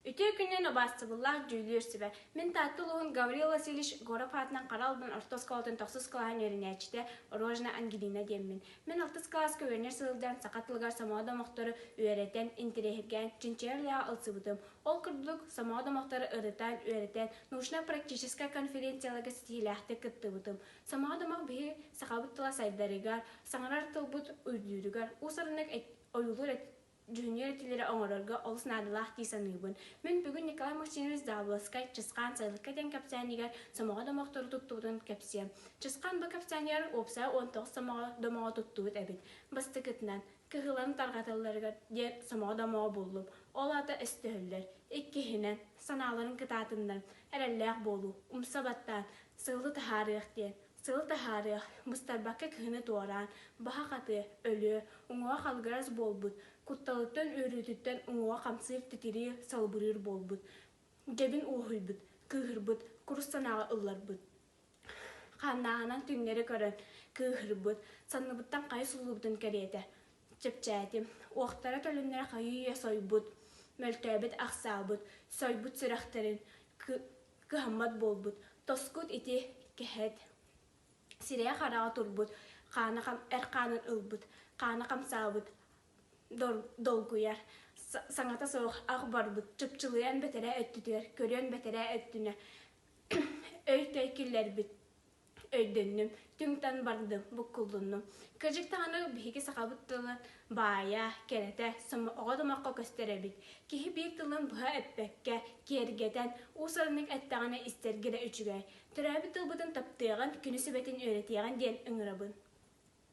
Үтүө күнүн, убаастабыллаах дьүүллүүр сүбэ! Мин Таатта улууһун Гаврил Васильевич Горов аатынан хара албын орто оскуолатын тохсус кылааһын үөрэнээччитэ Рожна Ангелина диэммин. Мин алтыс кылааска үөрэнэр сылдьан саха тылыгар сомоҕо домохтору үөрэтэн, интэриэһиргээн, чинчийэр үлэҕэ ылсыбытым. Ол курдук, сомоҕо домохтору ырытан, үөрэтэн, научнай-практическай конференцияларга ситиһиилээхтик кыттыбытым. Сомоҕо домох биһиги сахабыт тыла сайдарыгар, саҥарар тылбыт үрдүүрүгэр, уус-ураннык ойуулуур Дьүһүннүүр этиилэри оҥорорго олус наадалаах дии саныыбын. Мин бүгүн Николай Максимович Даабыласкай Чысхаан сайылыкка диэн кэпсээнигэ сомоҕо домохтору туттубутун кэпсиэм. Чысхаан бу кэпсээнигэр уопсайа уон тоҕус сомоҕо домоҕо туттубут эбит. Бастакытынан, кыһылан тарҕаталларыгар диэн сомоҕо домоҕо буллум. Ол аата өстөһөллөр. Иккиһинэн, санааларын кытаатыннарыҥ, эрэллээх буолуу, умса баттаан, сылы таһаарыах диэн. Сыл таһаарыа, быстарбакка киһини туораан, баһа хатыа, өлүө, уҥуоҕа халыгырас буолбут, кутталыттан үөрүүтүттэн уҥуоҕа хамсыыр, титириир, салбырыыр буолбут. Дьэбин уоһуйбут, кыыһырбыт, курус санааҕа ылларбыт. Хааннааҕынан түҥнэри көрөн, кыыһырбыт, санныбыттан хайа суллубутун кэриэтэ. Чэпчээтим. Уохтара төлөннөрө хайыы-үйэ сойбут, мөлтөөбүт, ахсаабыт, сойбут сүрэхтэрин, кыһаммат буолбут, тоскут ити кэһэт сирээх-хараҕа турбут, хаана хам, эр хаанын ылбыт, хаана хамсаабыт долгуйар, саҥата суох ах барбыт, чыпчылыйан бэтэрээ өттүтүгэр, көрүөн бэтэрээ өттүнэ өй-төй киллэрбит, өйдөннүм, түҥтэн бардым, буккуллуннум. Кырдьык даҕаны биһиги сахабыт тылы баайа, кэрэтэ, оҕо томоххо көстөр эбит. Киһи биир тылын быһа эппэккэ, киэргэтэн, уус-ураннык эттэҕинэ истэргэ да үчүгэй. Төрөөбүт тылбытын таптыаҕын, күнү-сүбэтин үөрэтиэҕин диэн ыҥырабын.